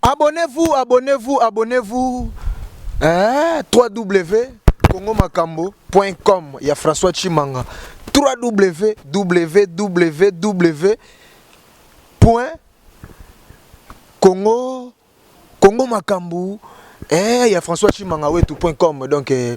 Abonnez-vous, abonnez-vous, abonnez-vous. Eh, 3W congomakambo.com ya François Chimanga. 3W www. Congo Congo makambu eh ya François Chimanga wetu.com donc eh,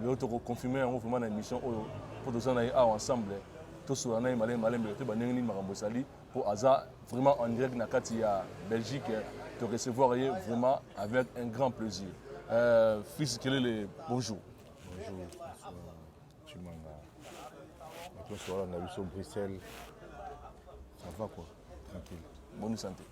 lelo toko confirmer yango vraiment na émission oyo mpo toza na ye awa ensemble tosola na ye malembe malembe te bandenge nini makambo ezali mpo aza vraiment en direct na kati ya belgique to recevoir ye vraiment avec un grand plaisir euh, fils kelele bonjour bonjour chimanga bato nyonso balanda biso bruxelles ça va quoi tranquille bonne santé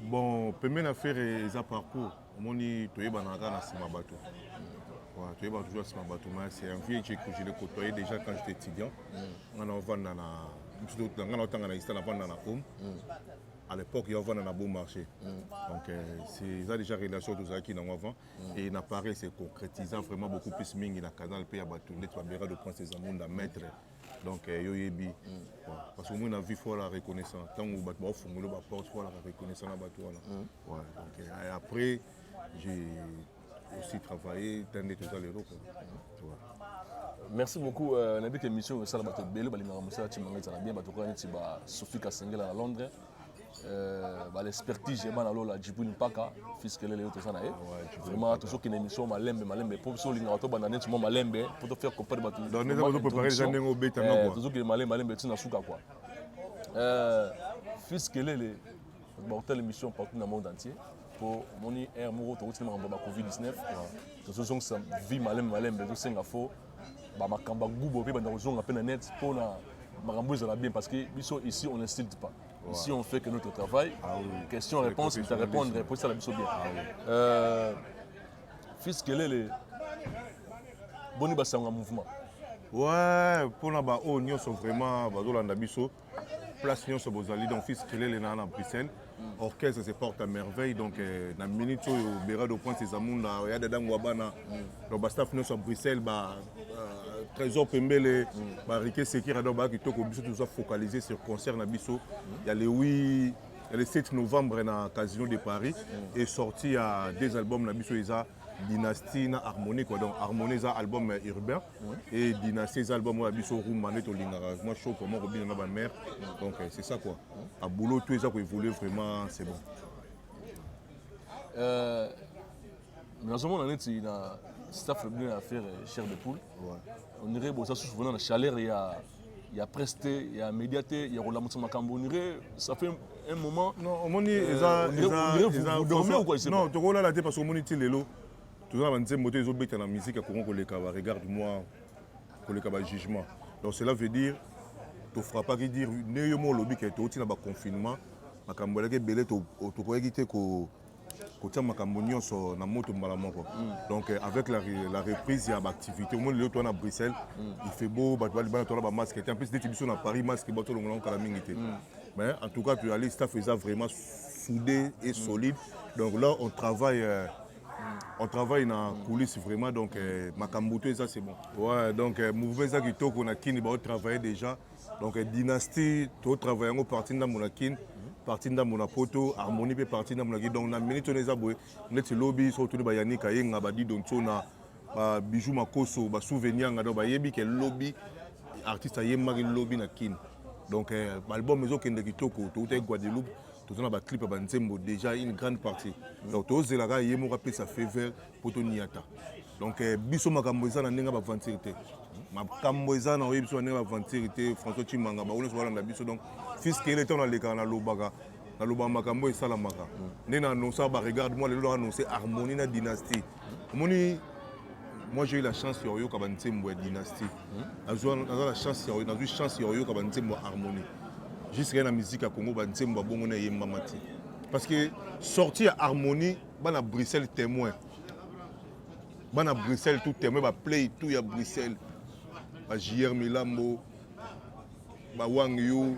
bon pembe na fere eza parcours omoni toyebana kaka na nsima bato voilà, toyebana toujours na nsima bato ma c'est un vieux je, je le côtoyais déjà quand j'étais étudiant mm. nga na ovanda na nga na otanga na ista na vanda na home mm. à l'époque ya ovanda na beau marché mm. donc euh, eza déjà relation tozalaki nango avant mm. et na paris c'est concrétisa vraiment beaucoup plus mingi na canal mpe ya bato ndeti babera de prince ezamunda maître mm. donc eh, yo oyebi mm. parce que omoi na vie fo alaka reconnaissant ntango bato baofungoli baporte fo alaka reconnaissant na bato wana mm. donc eh, après j'ai aussi travaillé ntan nde toza lelo merci beaucoup euh, nayebi ke émission oyo esala bato ebele balingaka mosala timanga ezala bien bato koya neti ba sophie kasengela na londres Euh, ba l'expertise ya bana lola jibril mpaka fiskelele yo toza na ye vraiment tozokende émission malembe malembe mpo biso olingaka tobanda neti mwa malembe mpo tofaire comprendre bato tozokende malembe malembe ntina suka kua fiskelele bakotala émission partout na monde entier mpo omoni aire moko tokotiki makambo ya ba covid 19 tozozongisa vie malembe malembe ezosenga faux ba makambo ya gubo mpe banda kozonga mpe na net mpo na makambo ezala bien parce que biso ici on insulte pas ouais. ici on fait que notre travail ah, oui. question réponse mita répondre mpo esala biso bien ah, oui. euh, fils kelele boni basango ya mouvement ouais mpona baoyo nyonso vraiment bazolanda biso place nyonso bozali donc fils kelele na na bruxelles orchestre se porte à merveille donc euh, na minute oyo berado prince ezamunda ya dada ngwa bana donc bastaff nyonso ya bruxelles ba euh, trésor pembele barike sekira donc bayaki toko biso toza focaliser sur concert na biso ya le 8 ya le 7 novembre na casino de paris et sorti ya deux albums na biso eza dynastie na harmonie quoi donc harmonie eza album urbain et dynastie eza album oyo ya biso rumba nde tolingaka vraiment show vraiment kobina na bamare donc euh, c'est ça quoi a boulot tout eza koévolue vraiment c'est bon euh, nazomona neti na staff bino ya affaire euh, chair de poule on dirait boza susu vrena na chaleur ya ya presse te ya média te ya kolamwisa makambo onire ça fait un moment non omoni eza eza eza dormir ou quoi non tokolala te parce que omoni ti lelo toza na banzembo te ezobeta na musique ya congo koleka ba regarde moi koleka ba jugement donc cela veut dire tofrappaki dire nde yo mo olobi ke touti na baconfinement makambo elaki ebele tokoyaki te kotia makambo nyonso na moto mbala moko mm. donc euh, avec la, la reprise ya baactivité omoni lelo toa na bruxelles mm. il fait beau bato balibana toala bamasque te en plus neti biso na paris masque bato olongola ngo kala mingi te mm. mais en tout cas toyali staff eza vraiment soudé et solide donc là on travaille euh, on travaille na coulisse vraiment donc euh, makambo to eza c'est bon ouais donc euh, mouvement eza kitoko na kini bao travailler déjà donc euh, dynastie to travailler yango parti ndambo na kini parti ndambo na poto harmonie mpe parti ndambo na kini donc na minute wana eza boye neti lobi soki otuni bayanik ayenga badido nsona babijou makoso basouvenir yanga donc bayebi ke lobi artiste ayembaki lobi na kini donc euh, baalbum ezokende kitoko toutaki guadeloupe toza na baclip ya banzembo déjà une grande partie donc tozela kaka ye moko apesa faveur mpo toniata donc eh, biso makambo eza na ndenge baventure te makambo eza na oyebi biso na ndenge baventure te françois chimanga bango nyonso balanda biso donc fiskele ntango nalekaka nalobaka nalobaka makambo esalamaka nde na annonce baregarde moi lelo na annonce harmonie na dynastie omoni moi j'ai eu la chance ya koyoka banzembo ya dynastie naza na chance nazwi chance ya koyoka banzembo ya harmonie jusqu'à na musique ya congo banzembo ya bongo na eyembama te parce que sorti ya harmonie bana bruxelles témoin bana bruxelles tout témoin baplay tout ya bruxelles ba jr milambo ba wang yu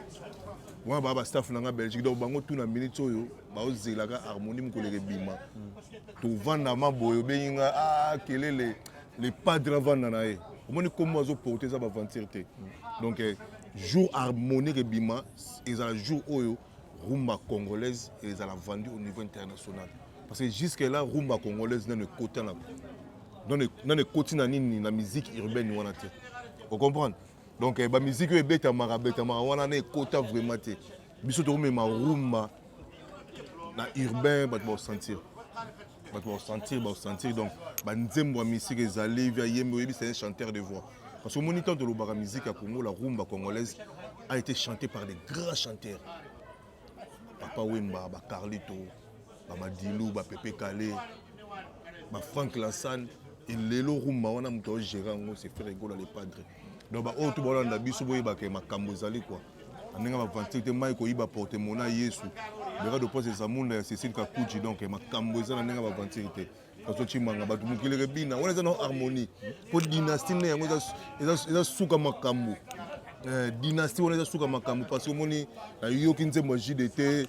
wana baa ba staff na nga belgique donc bango tout na minute oyo baozelaka harmonie mokoleka ebima tovanda ma boye obengi nga ah, kelele le padre avanda na ye omoni nkombo azoporte eza baventure te donc eh, jour harmonique ebima ezala jour oyo rumba congolaise ezala vendu au niveau international parce que jusque là rumba congolaise nano ekota na nano ekoti na nini na musique urbaine wana te ocomprendre donc eh, bamiziki oyo ebetamaka betamaka wana na ekota vraiment te biso tokomema rumba na urbain bato bakosentir bato bakosentir bakosentir donc banzembo ya misiki ezali via yembe oyebisa ye chanteur de voix parce que omoni ntango tolobaka miziki ya congo la rumba congolaise a été chanté par des grands chanteurs papa wemba bacarlito bamadilu bapepe kale bafrank lansane elelo rumba wana moto aogere yango se faire egola le padre donc baoyo to baolanda biso boyeba ke makambo ezali kua na ndenge bavanti te mai koyiba porte mona yesu beka de pose eza munda ya cecile kakuji donc makambo eza na ndenge bavanti te kaso cimanga bato mokili kebina wana eza na harmonie mpo dynastie nde yango eza suka makambo eh, dynastie wana eza suka makambo parce que omoni nayoki nzembo ya jide te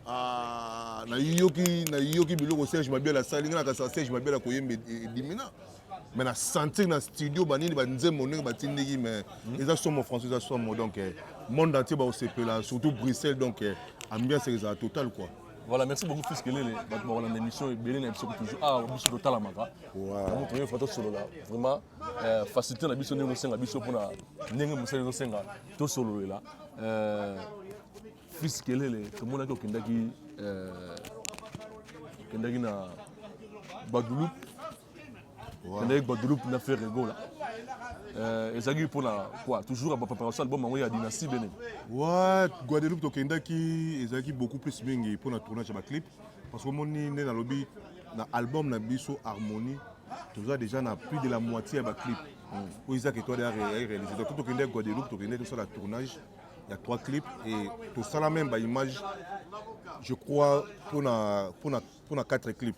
ah, nayoki nayoki biloko serge mabiala asali ngai nakasa serge mabiala koyemba edimina mais na sentir na studio banini banzembo ndenge batindiki mais hmm. eza somo français eza somo donc eh, monde entier bakosepela surtout bruxelles donc eh, ambiance ezala total quoi voilà merci beaucoup fils kelele bato bakolanda émission ebele na biso toujours awa ah, biso totalamaka yango toyei fa tosolola vraiment euh, facilité na biso ndenge osenga biso mpona ndenge mosali ezosenga tosololela euh, fils kelele tomonaki okendaki euh, okendaki na guadeloupe nandaki guadeloupe na ferre gola euh, ezalaki mpo na quoi toujours ya bapréparation album yango ya dynastie bene wa guadeloupe tokendaki ezalaki beaucoup plus mingi mpo na tournage ya baclip parce que omoni nde nalobi na album na biso harmonie toza déjà na plus de la moitié ya baclip oyo ezaki etoile ya réalise donc tokendaki guadeloupe tokendaki tosala tournage il y a trois clips et tout ça la même bah, image je crois pour na pour na pour na quatre clips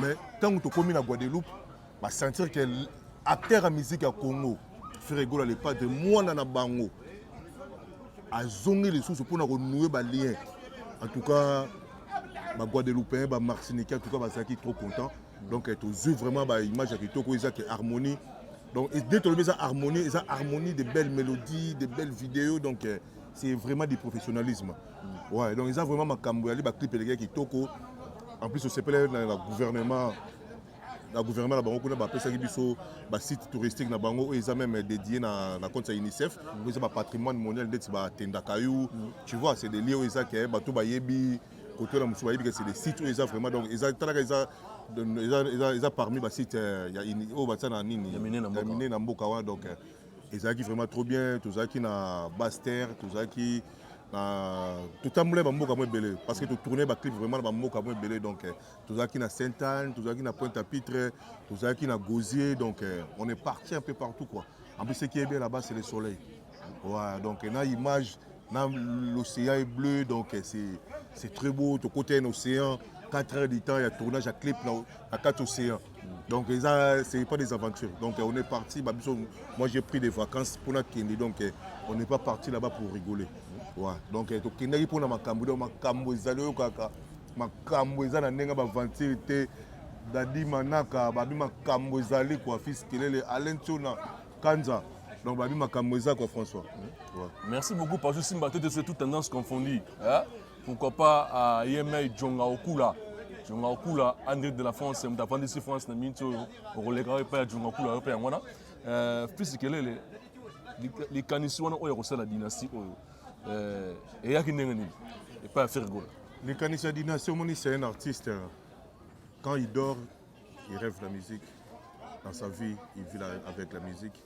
mais ntango tokomi na guadeloupe basentir ke acteur ya musique ya congo fregola le padre mwana na bango azongi lisusu mpo na konoue balien en tout cas baguadeloupéen bamartiniquais en tout cas bazalaki trop content donc eh, tozwi vraiment baimage ya kitoko eza ke harmonie donc nde tolobi eza harmonie eza harmonie de belles mélodies de belles vidéos donc eh, c'est vraiment du professionnalisme Mm. Ouais, donc eza vraiment makambo yali ba clip eleki kitoko. En plus osepela na la gouvernement na gouvernement na bango kuna bapesaki biso basite touristique na bango oyo eza meme dédié na, na compte ya unicef mm. eza bapatrimoine mondial ndeti batendaka yo mm. tu vois c'est des lieux oyo eza ke bato bayebi kote na mosusu bayebi ke c'est des sites oyo eza vraiment donc eza talaka eza eza, eza, eza parmi basite euh, ya oyo batia na nini ya mine na mboka wana donc euh, ezalaki vraiment trop bien tozalaki na baster tozalaki na totambolaki bamboka mo ebele parce que totourne baclip vraiment na bamboka mo ebele donc eh, tozalaki na sainte anne tozalaki na pointe à pitre tozalaki na gosier donc eh, on est parti un peu partout quoi en plus ce qui est bien là-bas c'est le soleil ouais, donc eh, na image na l'océan est bleu donc c'est c'est très beau tokota un océan 4 heures du temps ya tournage ya clip na, na kati océan Donc ça, c'est pas des aventures. Donc on est parti, bah, moi j'ai pris des vacances pour la Kindi, donc eh, on n'est pas parti là-bas pour rigoler. Ouais. Donc eh, Kindi pour la Makambo, donc Makambo ezali kaka, Makambo ezali na nenga ba aventure te, Dadi Manaka, babi Makambo ezali quoi, fils Kelele, Alain Tuna, Kanza. Donc babi Makambo ezali quoi François. Ouais. Merci beaucoup parce que Simba c'est toute tendance confondue. Hein? pourquoi pas à yemei euh, djonga okula djonga okula andré de la france moto afandisi france na miniti oyo okolekaka epai ya djonga okula yo mpe yango wana euh, fils kelele likanisi wana oyo ya kosala dynastie oyo euh, eyaki ndenge nini epai ya fergola likanisi ya dynastie omoni c'est un artiste hein. quand il dort il rêve la musique dans sa vie il vit avec la musique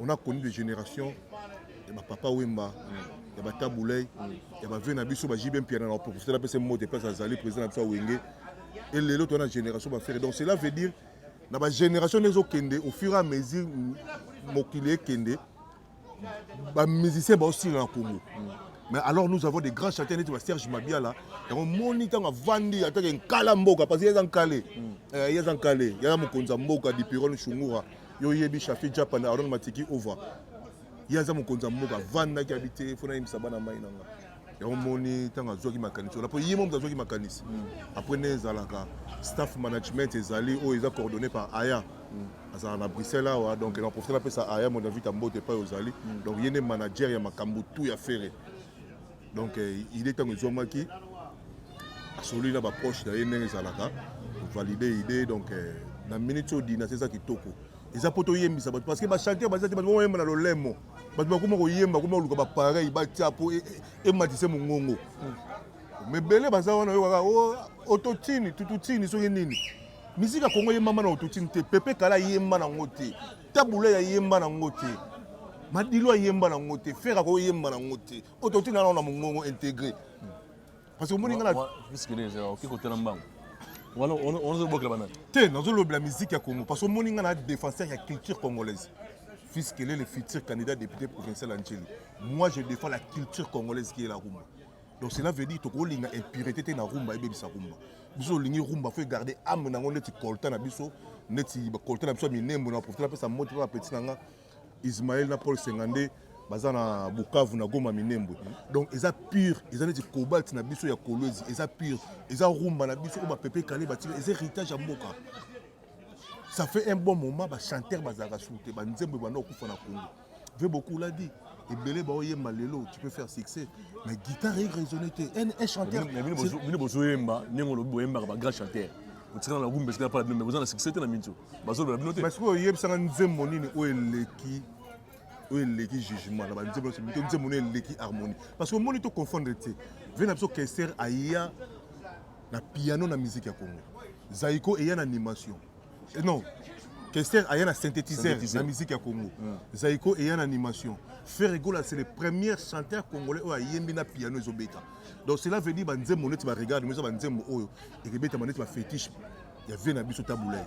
On a connu des generations ya ba papa Wemba ya ba Tabuley ya ba vieux na biso ba JB Mpiana na professeur na pese mbote pesa azali président na biso Wenge et lelo to na génération ba frère donc cela veut dire na ba génération nezo kende au fur et à mesure mokili ekende ba musiciens ba aussi na Congo mais alors nous avons des grands chanteurs neti ba Serge Mabiala yango moni ntango avandi atake nkala mboka parce que ye aza nkale ye aza nkale ye aza mokonzi ya mboka dipirone shungura Yo yebi Shafi Japa na Aaron Matiki Ova. Ye aza mokonzi ya mboka, vandaki abi te, fona yebisa bana mai na nga. Yango moni ntango azwaki makanisi wana, mpo ye moto azwaki makanisi. Mm. Après nde ezalaka staff management ezali oyo eza coordonné par Aya. Mm. azala na bruxelles awa donc na profite napesa aya mon david ambote epai ozali mm. donc ye nde manager ya makambo tu ya fere donc euh, idée ntango ezwamaki asololi na baproche na ye ndenge ezalaka valide idée donc euh, na minute oyo dinasi eza kitoko eza mpo toyembisa bato parce que bachanteur baza te bato bakoyemba na lolemo bato bakoma koyemba koma koluka bapareil batya mpo e, e, ematise mongongo mebele baza wana yo kaka oh, ototini tututini soki nini miziki ya kongo eyembama na ototini te pepe kala ayemba nango te tabula ya yemba na ngo te madilo ayemba na ngo te fere akoyemba na ngo te oyo totina nao na mongongo intégré parce que omoni nga naoki kotela mbango onazobokela banani te nazolobela miziki ya congo parce que omoni nga na défenseur ya culture congolaise fils quel est le futur candidat député provincial ya nceli moi je défends la culture congolaise qui est la rumba donc cela veut dire tokolinga impurité te na rumba ebebisa rumba biso olingi rumba fo egarde ame na yango neti colta na biso neti colta na biso ya minembo na profite napesa moti mpe bapeti na nga ismael na paul senga nde baza na bukavu na goma minembwe donc eza pure eza neti cobalt na biso ya kolwezi eza pure eza rumba na biso oyo bapepe kale batika eza héritage ya mboka ça fait un bon moment ba chanteur bazalaka sur te ba nzembo ebanda okufa na Congo ve beaucoup l'a dit ebele baoyemba lelo tu peux faire succès mais guitare e raisonne te un chanteur bino bozoyemba ndenge olobi boyembaka ba grand chanteur otikala na gumba esika pala bino me boza na succès te na minso bazolobela bino te parce que oyebisaka nzembo nini oyo eleki oyo eleki jugement na banzembo nyonso mito nzembo no eleki harmonie parce que omoni to confondre te ve na biso kester aya na piano na musique ya Congo. Zaiko eya na animation. Et eh non, Kester aya na synthétiseur na musique ya Congo. Mm. Zaiko eya na animation. Ferre Gola c'est le premier chanteur congolais oyo ayembi na piano ezobeta. Donc cela veut dire ba nzembo neti ba regarde mais ba nzembo oyo ekebeta maneti ba fétiche ya vie na biso tabulaire.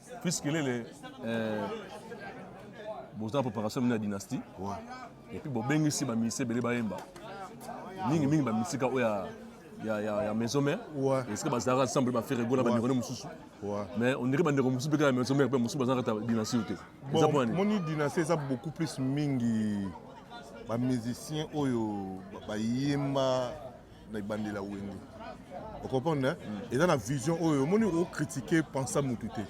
Fils Kelele, euh, boza na préparation mine ya dynastie ouais. et puis bobengisi bamusicien ebele bayemba mingi mingi bamisika oyo ya ya, ya, ya maison mère ouais. esika bazalaka ensemble bafere gola bandeko ne mosusu mais ondire bandeko mosusu mpe kaka ya maison mère mpe mosusu bazalaka ta dynastie oyo te eza mpo nani moni dynastie eza beaucoup plus mingi bamusicien oyo bayemba na ebandeli ya wenge ocomprendre mm. eza na vision oyo omoni okritike pensa mutu te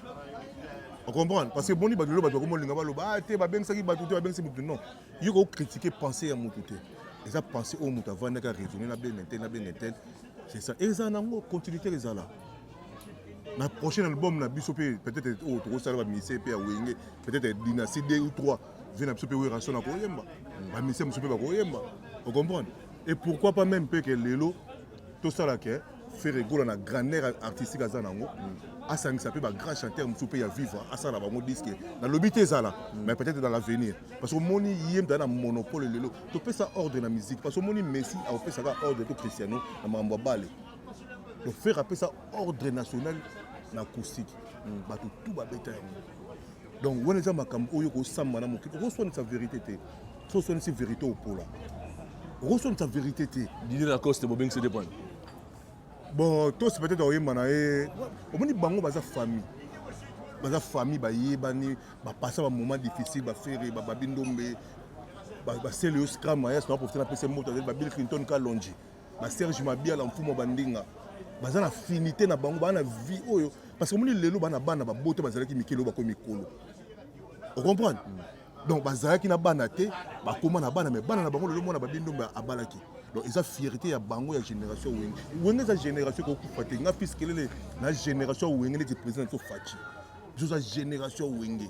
ocomprendre parce que boni bato lelo bato bakomolinga baloba ah, te babengisaki bato te babengisi motu non yo kokritike pense ya motu te eza pense oyo moto avandaki araisonne na benge te na benge te c'est ça eza nango continuité ezala na prochain album na biso mpe peut-être oyo oh, tokosala bamise mpe ya wenge peut-être dynastie 2 ou 3 vie na biso mpe werasona koyemba bamise mosusu mpe bakoyemba ocomprendre Et pourquoi pas même peut-être lelo tout ça là que Ferre Gola na grandeur artistique aza nango mm. asangisa pe ba grand chanteur mususu pe ya vivre asala bango disque na lobi te ezala mm. mais peut-être dans l'avenir parce que moni ye mda na monopole lelo to pesa ordre na musique parce que moni Messi a pesa ka ordre to Cristiano na mambo bale donc Ferre apesa ordre national na acoustique mm. bato tout babeta yango donc wana eza makambo oyo okosamba na mokili okoswanisa verité te so oswanisi verité opola okoswanisa verité te didi na coste bobengisi te pwana bon tosi peut-être oyemba na ye omoni bango baza famille baza famille bayebani bapasa bamoment difficile bafere bababi ndombe basele yo scram ayas na profite napesa moto azali babili clinton kalonji ba Serge Mabiala mfumo bandinga baza na finite na bango bana vie oyo parce que moni lelo bana bana babote bazalaki mikili oyo bakomi mikolo ocomprendre mm. donc bazalaki na bana te bakoma na bana me bana na bango lelo mwana babi ndombe abalaki donc eza fierté ya bango ya génération wenge wenge eza génération kokufa te nga fils kelele na génération wenge neti président so faci biso eza génération wenge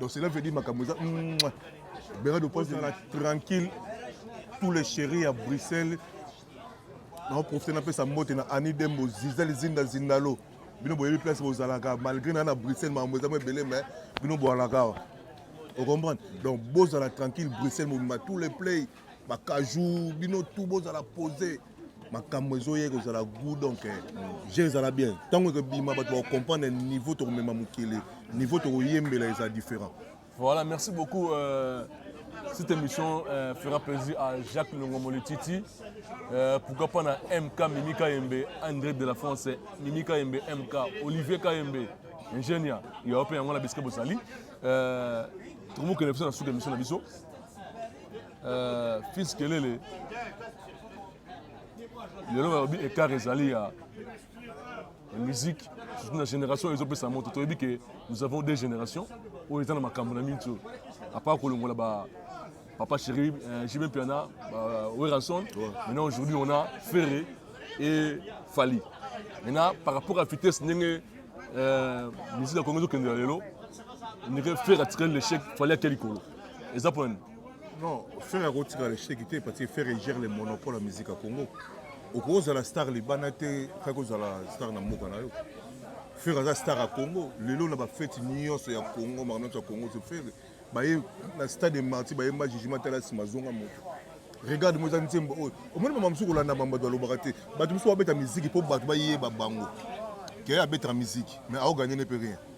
Donc cela veut dire makambo eza Bernard de Prince ezala tranquille tous les chéris à Bruxelles naoprofite napesa mbote na ani dembo zizali zinda zindalo bino boyebi place bozalaka malgré na na bruxelles makambo eza mo ebele mais bino boalaka awa ocomprendre donc bozala tranquille bruxelles mobimba tous les play bakajou bino tu bozala pose makambo ezoya ekozala goût donc eh, je ezala bien ntango ekobima bato bakokomprendre niveau tokomema mokili niveau tokoyembela eza différent voilà merci beaucoup euh... Cette émission euh, fera plaisir à Jacques Longomoli Titi. Euh, pourquoi pas na MK Mimi Kayembe, André de la France, Mimi Kayembe, MK, Olivier Kayembe, ingénieur, il y a un peu de biscuit Bossali. Euh, tout le monde qui est dans cette émission, Euh, fils kelele lelo balobi écart ezali ya musique surtout na génération ezopesa moto toyebi ke nous avons deux générations oyo eza na makambo na mingi oyo apart kolongola ba papa chéri euh, jb mpiana euh, werrason maintenant aujourd'hui on a ferre et fali maintenant par rapport à vitesse ndenge euh, musique ya kongo ezokendela lelo ndenge ferre atikali l'échec fali ake likolo eza mpo nani non ferre akotika le cheki te parce que ferre gère le monopole ya musique ya congo okoki ozala star libana te kaki ozala star na mboka na yo ferre aza star ya congo lelo na bafeti nyonso ya congo makambo nyonso ya congo so ferre baye na stade marti bayemba jugement tala nsima azonga moto regarde mo eza nzembo oyo omoni mama mosusu kolanda mambo bato balobaka te bato mosusu babeta miziki mpo bato bayeba bango ke abetaka miziki mais aoganye ne mpe rien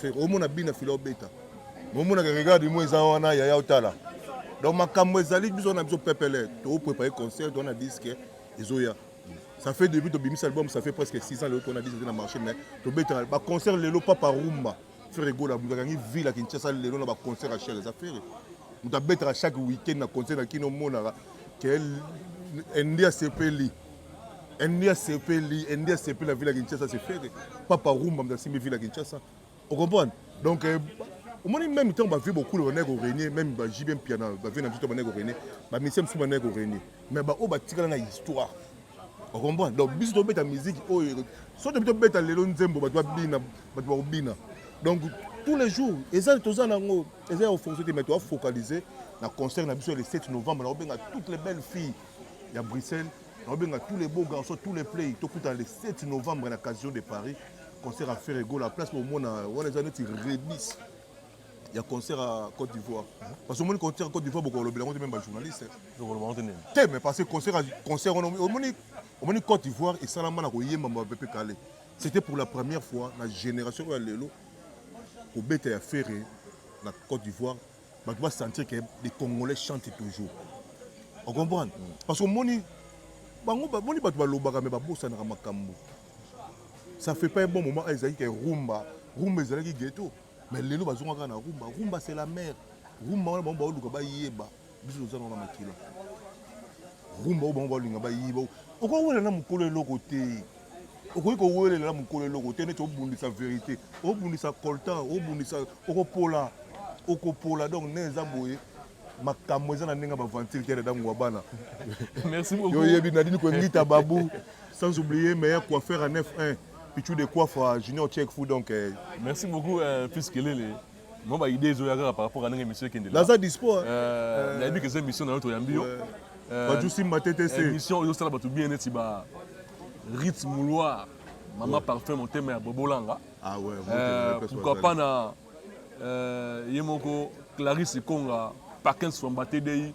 Ferre omona bina fila obeta. Omona ke regarde moi eza wana yaya otala. Donc makambo ezali biso na biso pepele to préparer concert on a disque ezoya. Ça fait depuis to bimisa album ça fait presque 6 ans le on a disque na marché mais to beta ba concert lelo papa rumba. Ferre Gola mutu akangi ville ya Kinshasa lelo na ba concert ya Shell eza Ferre. Mutu abetaka chaque week-end na concert na kino omonaka ke ende asepeli. Ennemi asepeli, ennemi asepeli na ville ya Kinshasa c'est ferre. Papa Rumba mda simbi ville ya Kinshasa. Vous comprenez? Donc euh, omoni même temps bavie bokulu bandaki korenie même bajibe mpiana bavie na biso to bandaki korenie bamisie mosusu bandaki korenie mais baoyo batikala na histoire okomprendre donc biso tobeta miziki oyo oh, so tobi tobeta lelo nzembo bato babina bato bakobina donc tous les jours eza toza nango eza ya ofocité mais toafocalise na concert na biso ya le 7 novembre nakobenga toutes les belles filles ya Bruxelles naobenga tous les beaux garçons tous les play tokutana le 7 novembre na casino de paris concert ya ferre egola place bomona wana eza neti rebis ya concert ya côte d'ivoire parce que omoni concert ya côte d'ivoire bokolobela yango te meme bajournaliste te mais parce que concert concert wana omoni omoni côte d'ivoire esalama na koyemba mapepe kale c'était pour la première fois na génération oyo ya lelo kobeta ya ferre na côte d'ivoire bato ba sentir que les congolais chantent toujours o comprendre mm. parce que omoni bango bamoni bato balobaka me babosanaka makambo ça fait pas un bon moment ezalaki ke rumba rumba ezalaki ghetto mais lelo bazongaka na rumba rumba c'est la mer rumba wana bango baoluka bayeba biso toza nango na makila rumba oyo bango baolinga bayeba okoki wela na mokolo eloko te okoki kowelela mokolo eloko te neti obundisa verité obundisa coltan obundisa okopola okopola donc ne eza boye makambo eza na ndenge ya baventure te dadango ya bana oyebi nadini koengita babu sans oublier meilleur coiffeur à 9 1 pichu de coiffe junior check fou donc eh. merci beaucoup euh, fils kelele Moi ba idée ezo ya kaka par rapport à ndenge monsieur ekende. Naza dispo. Hein. Euh, na yebi que c'est mission na yo to yambi yo. Euh, ba jusi mate te se. Mission oyo sala batu bien neti ba Ritz Mouloir, Mama ouais. Parfum motema ya Bobolanga. Ah ouais. Euh, pourquoi pas na euh, ye moko Clarisse Konga, Parkins Famba TDI.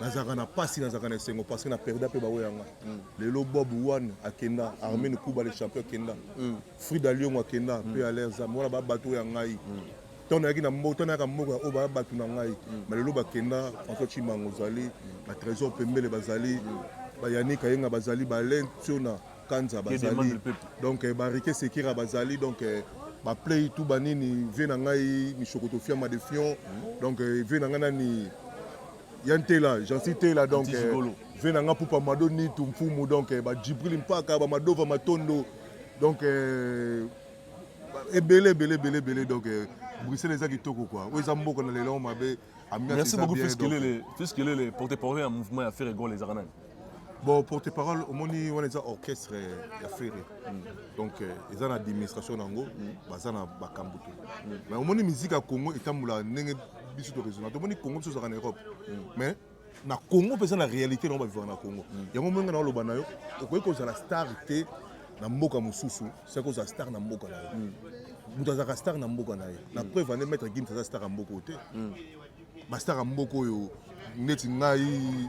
nazalaka na pasi nazalaka na esengo parce que na perda mpe baoyo yanga mm. lelo bob one akenda armene mm. kuba le champion akenda mm. frida liongo akenda mpe alaire zam wana babato oyo ya ngai ntango nayaki na mboka nayaka mboka oyo baya bato na ngai ma lelo bakenda françois chimango ozali batrésor pembele bazali bayanika yenga bazali balen tiona Kanza bazali donc eh, barike sekira bazali donc eh, ba play tout ba nini vie na ngai mishokoto fiama de fion hmm. donc eh, vie na ngai nani ya ntela jansi tela donc vie na ngai pupa mado nitu mfumu donc ba jibril mpaka ba madova matondo donc ebele ebele ebele ebele donc bruxelles eza kitoko kua oyo eza mboka na lelo mabe merci beaucoup fils kelele fils kelele porte parole ya mouvement ya ferre gol ezaka nani bon porte parole omoni wana eza orchestre ya ferre mm. donc euh, eza na administration na yango mm. baza na bakambo te mm. mais omoni miziki ya congo etambola ndenge biso toraisonna tomoni congo biso ozalaka na europe mais na congo mpe eza na réalité na yango bavivaka na congo yango ndenge naoloba na yo okoki kozala star te na mboka mosusu soki ozala star na mboka na yo moto azalaka star na mboka na ye na preuve ane maître gims aza star ya mboka oyo te bastar ya mboka oyo neti ngai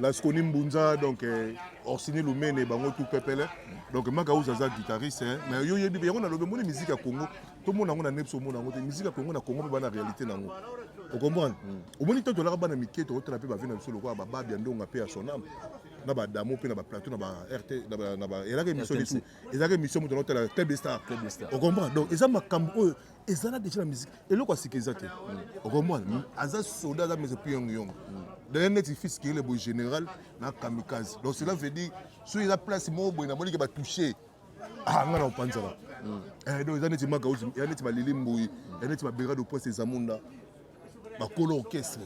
Lasconi Mbunza, donc euh, Orsini Lumene, bango tout pepele. Donc Makaouz aza guitariste, hein. mais yo yebi yango na lobe moni musique ya Congo, tout monde yango na nepso mona yango te, musique ya Congo na Congo ba na réalité na yango. Vous comprenez Au moins tant que là bana mike to otela pe ba vina biso lokola ba babi ndonga pe ya son âme. Na ba damo pe na ba plateau na ba RT na ba na ba elaka émission du tout. Ezaka émission moto na otela Club Star. Vous comprenez Donc eza makambo oyo ezala deja na musique eloko asika eza te okomona hmm. aza soda aza mese mpe yongo yongo hmm. d'ailleurs neti fils kirile boye général na kamikaze donc cela veut dire soki eza place moko boye namoni ke batouche ah nga na opanzala hmm. eh, donc eza neti makauzi ya neti balili mboyi ya neti baberado poise ezamunda bakolo orchestre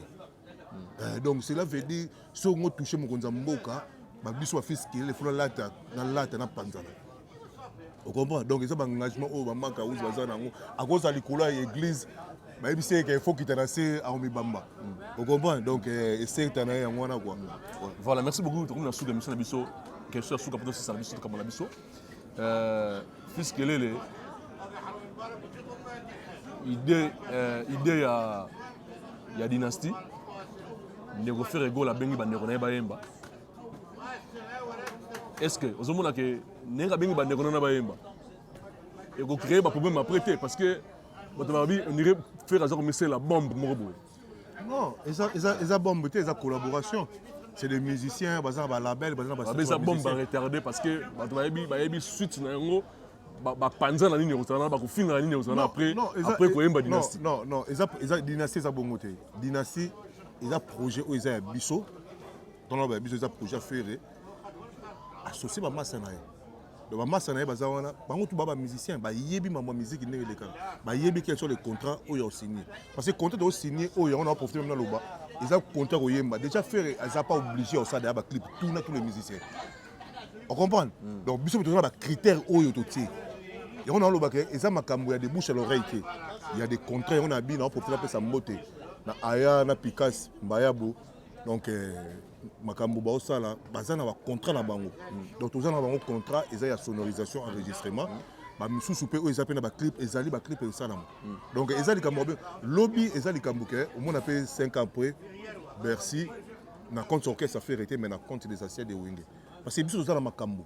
Eh, donc cela veut dire soki ongo touche mokonzi ya mboka babiso bafisi kelele fo nalata nalata napanzana ocomprend donc eza baengagement oyo bamaka uzi baza na yango akozala likolo ya église bayebisi eke il faut kita na se aomibamba mm. ocomprend donc eh, esekta na ye yango wana kua voilà merci beaucoup tokomi na suka émission na biso question ya suka mpo tosisa na biso tokambo na biso Euh, fils Kelele, idée, euh, idée ya, ya dynastie, ndeko Ferre Gola abengi bandeko na ye bayemba. Est-ce que ozomona ke ndenge abengi bandeko na ye bayemba ekocree baproblème après te parce que bato balobi ondire Ferre aza komisela bombe moko boye Non, eza eza eza bombe te, eza collaboration. C'est des musiciens, baza ba label, baza ba Babesa bombe ba retarder parce que bato bayebi bayebi suite na yango bapanza na nini ekozala bakofinga na nini ekozala après après koyemba dynastie non non eza eza dynastie eza bongo te dynastie eza projet oyo eza ya biso tona ba biso eza projet ya ferre associe bamasa na ye donc bamasta na ye baza wana bango tu ba bamusicien bayebi mambo ya miziki ndenge elekaka bayebi quel sont les contrats oyo osigne parce que contrat toosigne oyo yango na baprofite meme naloba eza contrat koyemba déjà fere aza pas obligé ya osala ya baclip tout na tous les musiciens ocomprendre hmm. donc biso toza na bacritère oyo totie yango nalobaka eza makambo ya de bouche à l'oreille te ya de contrat yango na bino aoprofite apesa mbote na aya na pikas mbayabo donc eh, makambo baosala baza na bacontrat na bango donc toza na bango contrat eza ya sonorisation enregistrement bamisusu mpe oyo eza mpe na baclip ezali baclip esalama donc eza likambo mabe lobi eza likambo ke omona mpe 5 ans après bercy na compte orchestre afere te mais na compte des assiette de wenge parce que biso toza na makambo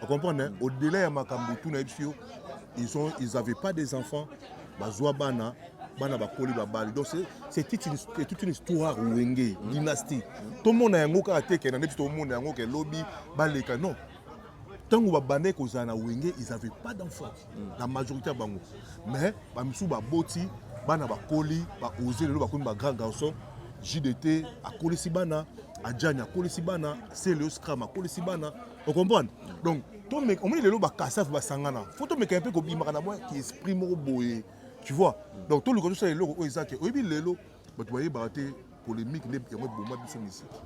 Vous comprenez hein? Au-delà ya makambo tout na biso ils ont ils avaient pas des enfants bazwa bana bana bakoli babali donc c'est toute une, toute une histoire wenge dynastie tomona yango kaka te kena neti tomona yango ke lobi baleka non ntango babandaki kozala na wenge ils avaient pas d'enfant la majorité ya bango mais bamisusu baboti bana bakoli baose lelo bakomi bagrand garçon jdt akolisi bana ajani akolisi bana celeo scram akolisi bana okomprendre donc tomeka omoni lelo bakasave basangana fo tomekana mpe kobimaka na mwa esprit moko boye tu vois donc toluka tosala eloko oyo eza te oyebi lelo bato bayebaka te polémique nde yango eboma biso misiki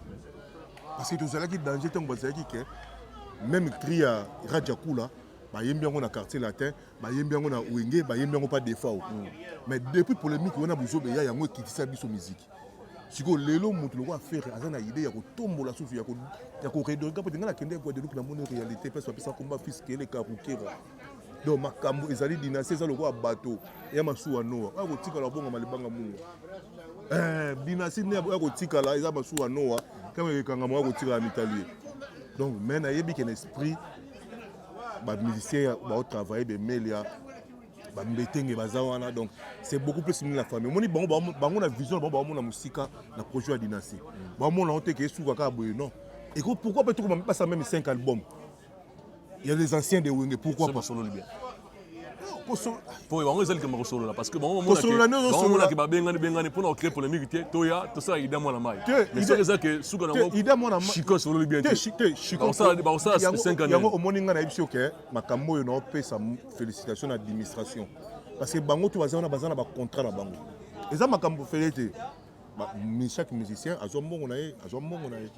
parce que tozalaki danger ntango bazalaki ke même cri ya rajakula bayembi yango na quartier latin bayembi yango na wenge bayembi yango pa defao mais depuis polémique wana bozoba eya yango ekitisa biso miziki sikoyo lelo moto lokola fere aza na idee ya kotombola susu ya koredonka mpo tinga nakende guadeloupe namoni réalité place bapesa komba fils kele karukera donc makambo ezali dynastie eza lokola bato ya masuwa noa oya kotikala obongama libanga mungu eh, dynastie nde oya kotikala eza masuwa noa kama ekangama oya kotikala mitalie donc mai nayebi ke na esprit bamusicien baotravaille bemelia ba mbetenge baza wana donc c'est beaucoup plus mini la famille omoni bango ba- bango na vision na bango baomona mosika na projet ya dynastie baomona yango te ke esuka kaka boye non eko pourquoi pas tokoma mipasa meme 5 album ya les anciens de wenge pourquoi Soki pas basololi bien Koso- po bango ezali kema kosolola parce que bango Kosolola nde ozosolola. bamonaki babengani bengani mpona kocree polémique te toya tosala ida mwana mai Te, mais Ida- soki eza ke suka te, Ida mwana ma- nango chiko esololi bien te te shi- te shiko- Bakosala- bakosala yango- 5 ans yango nini? omoni ngai nayebisi yo ke makambo oyo naopesa félicitation na administration parce que bango to baza wana baza na bacontrat na bango eza makambo fele te chaque musicien azwa mbongo na ye azwa mbongo na ye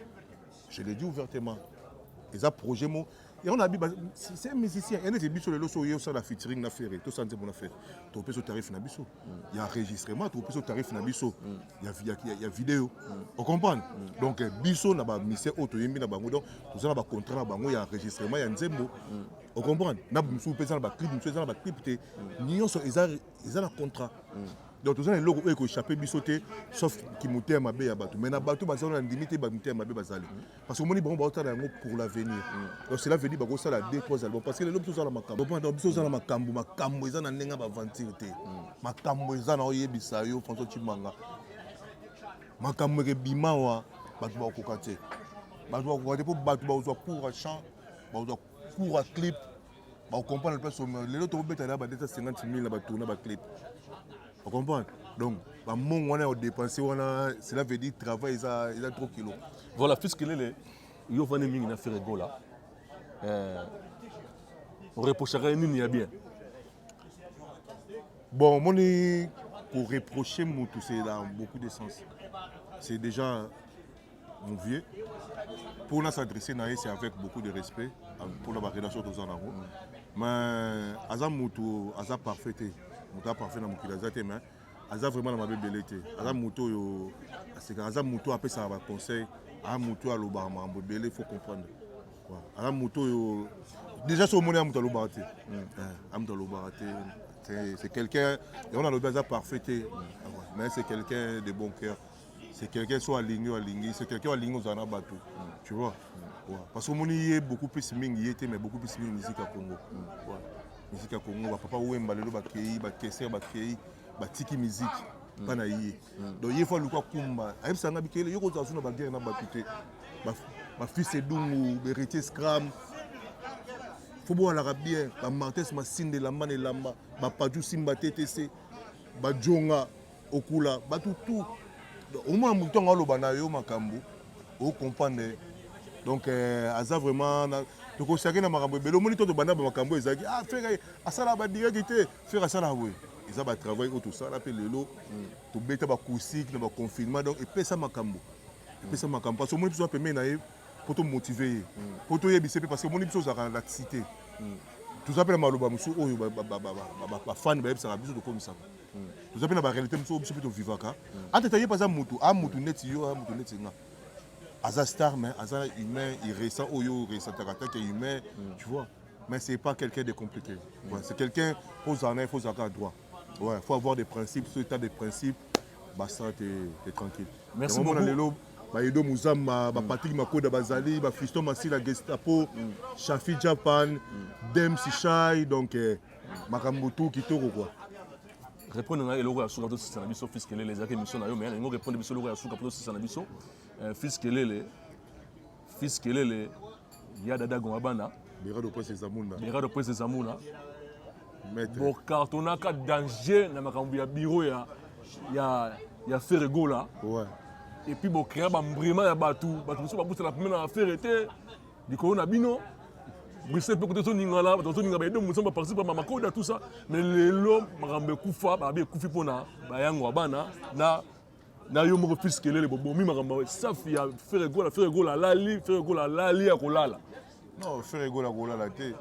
je le dis ouvertement eza projet mo yango nabi c'est un musicien ye neti biso lelo so oye osala featuring na ferre tosala nzembo na ferre topesa tarif na biso ya enregistrement topesa tarif na biso ya, ya, ya, ya video mm. ocomprendre mm. donc eh, biso na bamisien oyo toyembi na bango donc toza na bacontrat na bango ya enregistrement ya nzembo mm. ocomprendre na mosusu mpe eza na baclip mosusu eza na baclip te mm. nyonso eza, eza na contrat mm. donc toza na eloko oyo ekochape biso te sauf kimotema mabe ya bato mai na bato baza na ndimi te bamotema mabe bazali mm. parce que omoni bango baotala yango pour l'avenir mm. donc cela veut dire bakosala deux trois album parce que lelo biso ozala makambo opanda biso ozala makambo makambo eza na ndenge ya baventure te mm. makambo eza na oyebisa yo françois cimanga makambo ekebima wa bato bakokoka te bato bakokoka te mpo bato bakozwa cour ya champ bakozwa cour ya clip bakokomprendre place lelo tokobeta na ba 250 000 na batourna baclip ocomprendre donc bamongo wana ya kodepense wana cela veut dire travail eza, eza trop kilo voilà fiskelele yo ofandi mingi na feregola euh, oreprochaka ye nini ya bien bon omoni koreproche motu c'est dans beaucoup de sens c'est déjà mon vieux mpo na s'adresse na ye c'est avec beaucoup de respect mpo na barelation toza nango mais aza motu aza parfait te motu aza parfait na mokili aza te mais aza vraiment na mabe ebele te aza motu oyo asekaka aza motu oyo apesaka baconseil aza motu oyo alobaka makambo ebele faut comprendre aza motu oyo déjà soki omoni ya motu alobaka te a motu alobaka te c'est quelqu'un yango nalobi aza parfait te mais c'est quelqu'un de bon cœur c'est quelqu'un soit alingi ou alingi c'est quelqu'un alingi ozala na bato tu vois ouais. parce que omoni ye beaucoup plus mingi ye te mais beaucoup plus mingi musique ya congo ouais. musique ya congo bapapa wemba lelo bakei bakeser bakei batiki musique mpa na ye donc ye fo aluki akumba ayebisa nga bikele yo kozala su na baguerre na bato te bafils edungu beritier scram fo bowalaka bien bamartes masinda elamba na elamba bapaju simba ttc bajonga okula batu tout omona moto ntango aloba na yo makambo okomprendre donc euh, aza vraiment tokosaki na makambo ebele omoni to tobanda bamakambo ezalaki ah fere asalaka badireki te fere asalaka boye eza batravail oyo tosala mpe lelo mm. tobeta bacoustique na baconfinement donc epesa makambo epesa makambo parce omoni biso na pembeni na ye mpo tomotive ye mpo mm. toyebise mpe parce omoni biso ozalaka na laxité mm. toza mpe na maloba mosusu oyo bafani bayebisaka biso tokomisaka toza mpe na barealité mosusu biso mpe tovivaka entre temps ye mpe aza motu a motu neti yo a motu neti nga aza star mais aza humain irrécent oyo oresentaka atake humain tu vois mais c'est pas quelqu'un de compliqué ouais, c'est quelqu'un mpo ozala na ye fo ozalaka na droit ouais faut avoir des principes so état des principes basta te te tranquille Merci Yango mona beaucoup. lelo baedo muzamba bapatrik makoda bazali bafiston masila gestapo shafi japan dems shai donc eh, makambo tu kitoko kwa repondre ngai eloko ya suka tosisa na biso fils kelele ezalaki émission na yo mais nalingi orepondre biso eloko ya suka mpo tosisa na biso euh, fils kelele fils kelele ya dada gonga bana berado prince ezamuna berado prince ezamuna bokartonaka danger na makambo ya biro ya ya ya ferre gola ouais. epuis bocrea bambrima ya bato bato mosusu babutana pemena na ferre te likolo na bino Bruxelles mpe kote ozoningana bato bazoninga bayedo mosantu baparticipe ba makoda tout ça mais lelo makambo ekufa babi ekufi mpo na bayango ya bana na na yo moko fils kelele bobomi makambo safi ya fere gola fere gola alali fere gola alali ya kolala non fere gola kolala te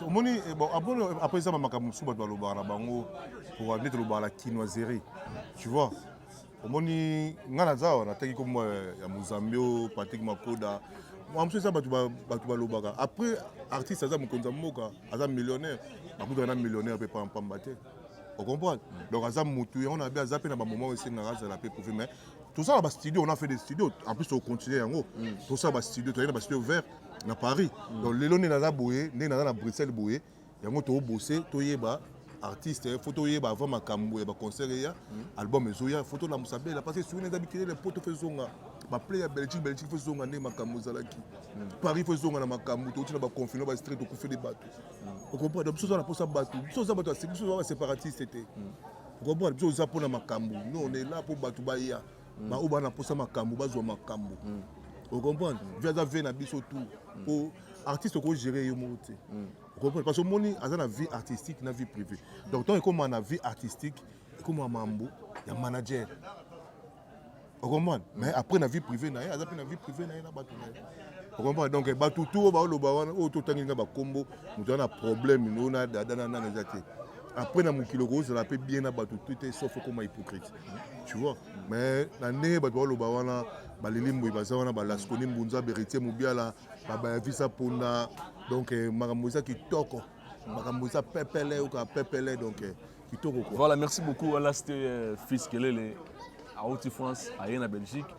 omoni eh, bon aponi après eza bamakambo mosusu bato balobaka na bango mpo nde tolobaka na kinoiserie tu vois omoni ngai naza awa nataki kombo ya mozambi oyo patrik makoda mosusu eza bato balobaka après artiste aza mokonzi ya mboka aza millionnaire bakutaka na millionnaire mpe pampamba te ocomprendre donc aza motu yango na be aza mpe na bamoment oyo esengaka azala mpe prouve mais tosala bastudio on a fait des studio en plus tocontinue yango mm. tosala bastudio toyaki na bastudio vert na paris mm. donc lelo nde naza boye nde naza na bruxelles boye yango to bose toyeba artiste eh, faut toyeba avant makambo ya baconcert eya hmm. album ezoya faut tolamusa bela parce que souveni eza bikilele poto fo ezonga baplay ya belgique belgique fo ezonga nde makambo ezalaki hmm. paris fo ezonga na makambo touti na baconfine bastreet tokufeli bato hmm. okomprendre biso oza na mposa bato biso oza bato biso oza baseparatiste te okomprendre biso oza mpo na makambo no on est là mpo bato baya baoyo bana mposa makambo bazwa makambo okomprendre vi aza ve na biso tout mpo artiste oko gérer yo moko te okoki parce que omoni aza na vie artistique na vie privée donc ntango ekóma na vie artistique ekóma mambo ya manager okomprendre mais après na vie privée na ye aza mpe na vie privée na ye na bato na ye okomprendre donc eh, bato tu oyo baoloba wana oyo totangi nga bakombo moto aza na problème no na dada na nani eza te après na mokili okozala mpe bien na bato tu te sauf okoma hypocrite tu vois mais na ndenge bato baoloba wana balili mboyi baza wana balaskoni mbunza beritier mobiala babayavisa mpona donc eh, makambo eza kitoko makambo eza pepele oka pepele donc eh, kitoko quoi. voilà merci beaucoup alaste euh, fils kelele auti france aye na belgique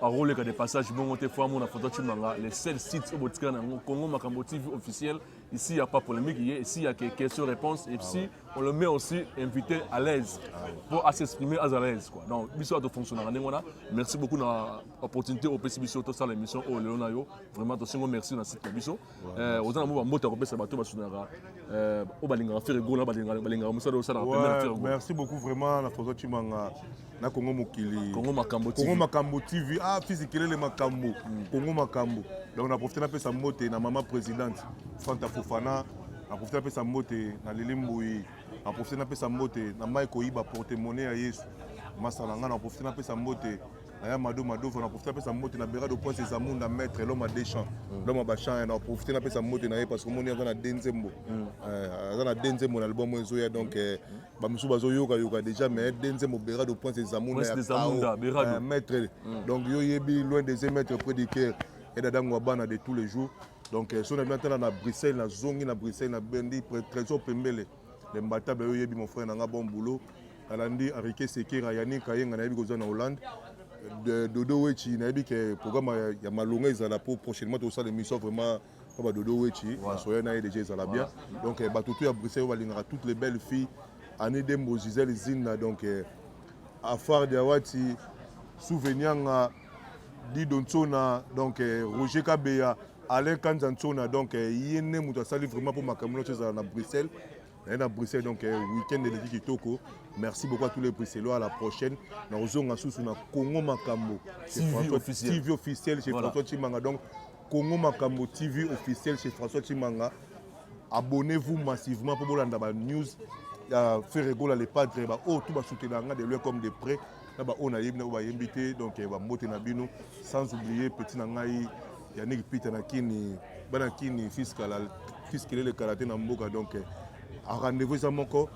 akoleka de passage bongo te fo amona foto cimanga le seul site oyo botikala na yango congo makambo tv officiel ici ya pas polémique ye ici ya question réponse et si ah on le met aussi invité à l'aise ah pour à s'exprimer à l'aise quoi donc biso ato fonctionnaka ndenge wana merci beaucoup na opportunité opesi biso tosala émission oyo lelo na yo vraiment tosengo merci na site na biso eh, oza na mwa bambote ya kopesa bato basunaka eh, oyo balingaka fere gola balingaka mosala osalaka pembe na fere merci beaucoup vraiment na françois cimanga na kongo mokili kongo makambo kongo makambo tv ah fisi kelele makambo hmm. kongo makambo donc na profite napesa mbote na mama présidente fanta fofana na profite napesa mbote na lili mbuyi na profite napesa mbote na mai koyiba porte monnaie ya yesu masala ngai na profite napesa mbote naya mado madova na profite apesa mbote na berado poise eza munda maître l'homme a deschamp mm. l'homme a bachan na profite napesa mbote na ye parce que omoni aza na de nzembo mm. eh, aza na de nzembo na album oyo ezoya donc eh, mm. bamosusu bazoyokayoka déjà mais de nzembo berado poise eza munda ya kao eh, maître donc yo yebi loin des maître près du cœur edadango ya bana de tous les jours donc soki na bino atala na bruxelles nazongi na bruxelles na bendi trésor pembele Le Mbatabe yo yebi mon frère nanga bon boulot. Alandi Enrique Sekera Yannick Kayenga na yebi ko na Hollande. De Dodo Wechi na yebi ke programme ya, ya malonga ezala pour prochainement to sala émission vraiment pa ba Dodo Wechi voilà. soya na ye déjà ezala voilà. bien. Donc eh, ba tutu ya Bruxelles ba lingaka toutes les belles filles. Annie Dembo Gisèle Zinna donc eh, Afar Diawati Souvenianga Dido Nsona, donc euh, Roger Kabeya, Alain Kanza Nsona, donc euh, ye nde moto asali vraiment mpo makambo nyonso ezala na Bruxelles. naye na bruxelles donc euh, week-end eleki kitoko merci beaucoup à tous les bruxellois à la prochaine na kozonga susu na congo makambo tv officiel chez voilà. françois chimanga donc congo makambo tv officiel chez françois chimanga abonnez-vous massivement mpo bolanda banews ya ferregola le padre baoyo oh, tu basoutenaka de loin comme de près na ba oyo nayebi na oyo bayembi te donc eh, bambote na bino sans oublier petit na ngai yannick peter na kini bana kini fiskala fiskelele karate na mboka donc eh, a rendez-vous eza moko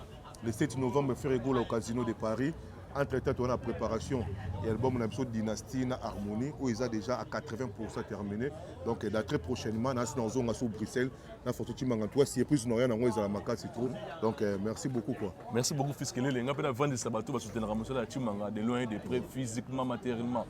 le 7 novembre ferre egola au casino de paris entre temps toza na préparation ya album na biso dynastie na harmonie oyo eza déjà à 80 pourcent terminé donc eh, da très prochainement nasi na ozonga sur bruxelles na photo timanga toi surprise na rien nango ezala makasi trop donc euh, merci beaucoup quoi merci beaucoup fils kelele nga pe na vandisa bato basutenaka mosala ya timanga de loin et de près physiquement matériellement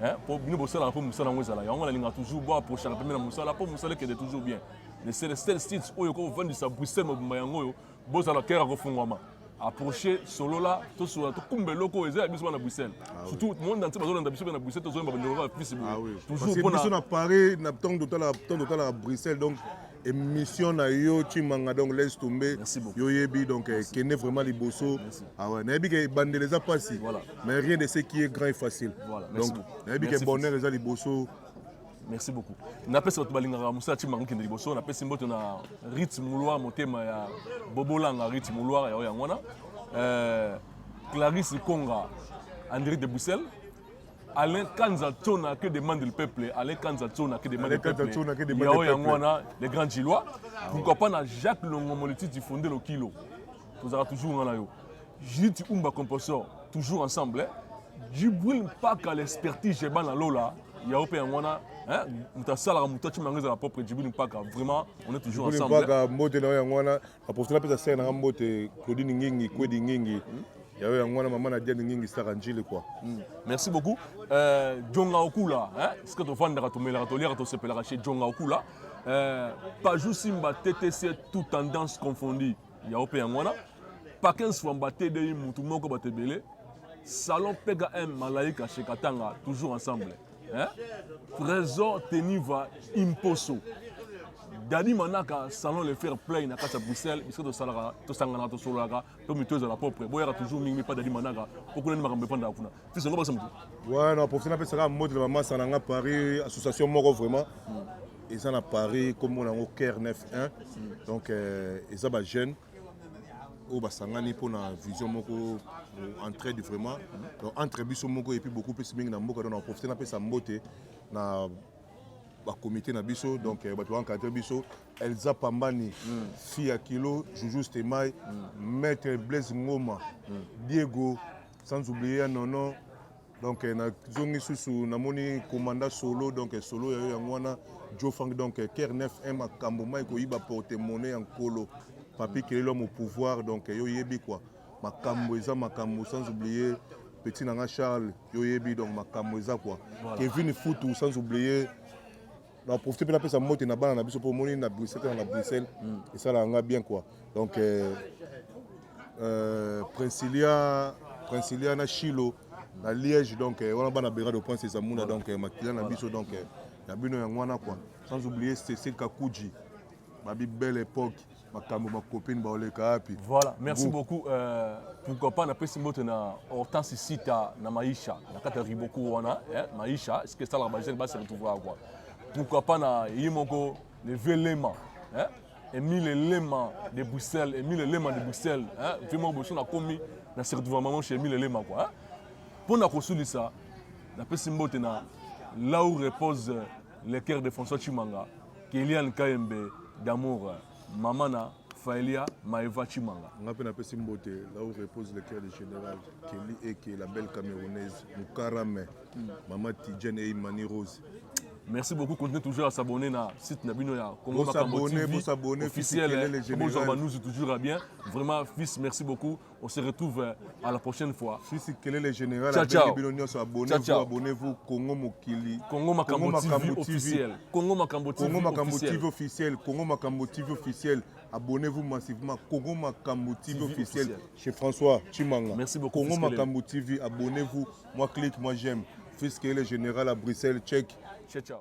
hein po bino bosalaka mpe mosala yango ezala yango nalinga toujours bo approchaka pembe na mosala mpo mosala ekende toujours bien le celestel state oyo kovandisa bruxelles mobimba yango oyo bozala kere akofungwama approche solola tosolola tokumba eloko oyo eza ya biso bana bruxelles ah surtout monde entier bazolanda biso mpe na bruxelles tozoyemba bandeko ya fisi boye ah toujourbiso na paris na ntango totalaka bruxelles donc émission na yo cimanga donc laisse tomber yo yebi donc eh, kende vraiment liboso awa ah nayebi ke ebandela eza mpasi mais rien de ce qui est grand et facile donc nayebi ke bonheur eza liboso merci beaucoup napesi bato balingaka mosala ti mango kende liboso napesi mbote na rit mulwa motema ya bobolanga rit mulwa yayo yango wana euh, clarisse konga andré de bruxelles Alain Kanza Tona que demande le peuple Alain Kanza Tona que demande le peuple Yao Yangwana les grands Gilois ah pourquoi pas na Jacques Longo Moliti du fondé le kilo Tozara toujours ngana yo Judith Umba Composor, toujours ensemble. Djibril Mpaka, l'expertise Jeba na Lola, Yao pe Yangwana, hein, Moutassalara Moutachi Mangeza, la propre Djibril Mpaka, vraiment, on est toujours ensemble. Djibril Mpaka, Mbote na Yangwana, la profite la pesa serre na Mbote, Claudine Ngingi, Kwedi Ngingi. Hmm? yayo yango wana mama na diane ngingi saka njili kua hmm. merci beaucoup euh, jonga okula sika tofandaka tomelaka toliaka tosepelaka chez jonga okula euh, pajou simba ttc tout tendance confondue yango mpe yango wana pakens fwamba tdi mutu moko bato ebele salon pkm malaika chez katanga toujours ensemble hein? trésor teniva imposo dadi manaka salon le faire play na kati ya bruxelles bisika tosalaka tosanganaka tosololaka mpe mito ezala propre boyaka toujours mingi mipa dadi manaka mpo kuna nde makambo efandaka kuna fils yango bakisa motu ouais na profite napesa kaka mbote na bamasa na nga paris association moko vraiment eza na paris nkombo na yango care 91 donc euh, eza bajeune oyo basangani mpo na vision moko entraide vraiment donc entre biso moko epuis beaucoup plus mingi na mboka donc na profite napesa mbote na bakomite na biso donc euh, bato baencadre biso elza pambani fille ya kilo juju stemai maître blaise ngoma diego sans oublier ya nono donc eh, nazongi susu namoni commanda solo donc eh, solo ya yo yango wana joe frank donc ker 9 1 makambo mai koyiba porte monnaie ya nkolo papi kelelo mo pouvoir donc yo yebi quoi makambo eza makambo sans oublier petit na nga charles yo yebi donc makambo eza quoi kevin futu sans oublier na profite mpe napesa mbote na bana na biso mpo omoni na bruxelles tena na bruxelles mm. esalaka nga bien quoi donc euh, euh, princilia princilia na chilo na liège donc euh, wana bana bengade oprince ezamuna donc euh, makila na biso donc euh, ya bino yango wana quoi sans oublier cecil kakuji babi belle époque makambo bakopini baoleka wapi voilà merci beaucoup euh, pourquoi pas napesi mbote na hortense sita na maisha na kati ya riboku wana eh, maisha ce que esalaka bajeune basi retrouver quoi pourquoi pas na ye moko le vieux lema eh? emile elema de bruxelles emile elema de bruxelles eh? vieux moko boso nakomi na se retrouver maman chez emile elema quoi eh? mpo na kosulisa napesi mbote na là où repose le cœur de françois chimanga Keliane Kayembe d'amour mama na Faelia Maeva Chimanga. Nga mpe napesi mbote là où repose le cœur du général Kelly Eke la belle camerounaise Mukarame mm. maman Tidjane et Imani Rose. Merci beaucoup continuez toujours à s'abonner na site na bino ya Congo Makambo TV officiel. Bonjour Banouzi toujours à bien. Vraiment fils merci beaucoup. On se retrouve euh, à la prochaine fois. Je suis Kelele Général. Ciao, ciao. Abonnez-vous, abonnez-vous. Congo Mokili. Congo Makambo, Congo Makambo TV, TV officiel. Congo Makambo TV Congo Makambo officiel. TV officiel. Congo Makambo TV officiel. Abonnez-vous massivement. Congo Makambo TV, TV officiel. officiel. Chez François Chimanga. Merci beaucoup. Congo Makambo TV. Abonnez-vous. Moi clique, moi j'aime. Fils Kelele Général à Bruxelles, Tchèque. Ciao, ciao.